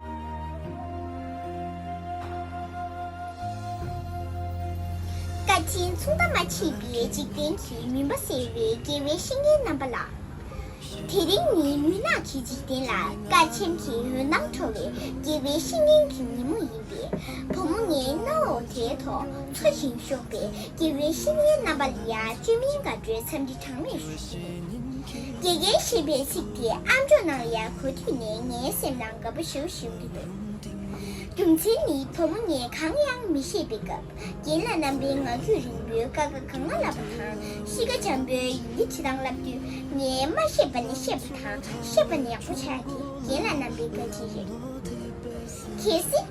བཀའ་དྲིན་མཚུངས་ཟླ་མ་མཆིས་པའི་འཇིག་རྟེན་གྱི་མུན་པ་སེལ་བའི་དགེ་བའི་བཤེས་གཉེན་རྣམ་པ་ལགས། དེ་རིང་ནི་མུན་ནག་གི་འཇིག་རྟེན་ལ་བཀའ་ཆེམས་ཀྱི་འོད་སྣང་འཕྲོ་བའི་དགེ་བའི་བཤེས་གཉེན་གྱི་ཉིན་མོ་ཡིན་པས་བུ་མོ་ངའི་རྣ་འོག་དེའི་ཐོག་འཕྲོ་ཞིང་ཞོགས་པའི་དགེ་བའི་བཤེས་གཉེན་རྣམ་པ་ལ་ཡང་བཅོས་མིན་དགའ་སྤྲོའི་འཚམས་འདྲི་གྲངས་མེད་ཞུ། དགེ་རྒན་ཞེས་པའི་ཚིག་དེ་ཨ་མཆོག་ནང་ཡར་གོ་དུས་ནས་ངའི་སེམས་ནང་དགའ་པོ་ཞིའུ་ཞིའུ་གི་འདུག་རྒྱུ་མཚན་ནི་བུ་མོ་ངས་གང་ཡང་མི་ཤེས་པའི་སྐབས་རྒན་ལགས་རྣམ་པའི་ངག་རྒྱུན་རིང་པོའི་ཀ་ཁ་གང་མ་བསླབ་པ་དང་གཤིས་ཀ་འཇམ་པོའི་ཡི་གེ་བྲིས་ཐང་བསླབ་དུས་ངས་མ་ཤེས་པ་ནས་ཤེས་པ་དང་ཤེས་པ་ནས་ཡག་པོ་བྱས་དེ་རྒན་ལགས་རྣམ་པའི་བཀའ་དྲིན་རེད། གལ་སྲིད།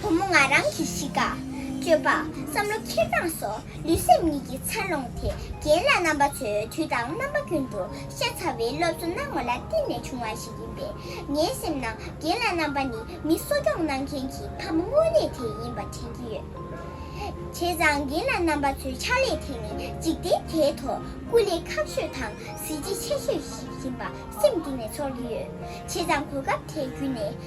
བུ་མོ་ང་རང་གི་གཤིས་ཀ། སྤྱོད་པ། བསམ་བློ་འཁྱེར་སྟངས་སོགས་ལུས་སེམས་གཉིས་ཀྱི་འཚར་ལོངས་དེ་རྒན་ལགས་རྣམ་པ་ཚོས་དུས་དང་རྣམ་པ་ཀུན་ཏུ་ཤ་ཚ་བའི་སློབ་གསོ་གནང་བ་ལ་བརྟེན་ནས་བྱུང་བ་ཞིག་ཡིན་པས་ངའི་སེམས་ནང་རྒན་ལགས་རྣམ་པ་ནི་མི་གསོ་སྐྱོང་གནང་མཁན་གྱི་ཕ་མ་དངོས་གནས་དེ་ཡིན་པ་དྲན་གྱི་ཡོད། བྱས་ཙང་རྒན་ལགས་རྣམ་པ་ཚོའི་ཕྱག་ལས་དེ་ནི་འཇིག་རྟེན་དེའི་ཐོག་སྐུ་ལས་ཁག་ཤོས་དང་གཟི་བརྗིད་ཆེ་ཤོས་ཤིག་ཡིན་པ་སེམས་གཏིང་ནས་ཚོར་གྱི་ཡོད། བྱས་ཙང་གོ་སྐབས་དེ་བརྒྱུད་ནས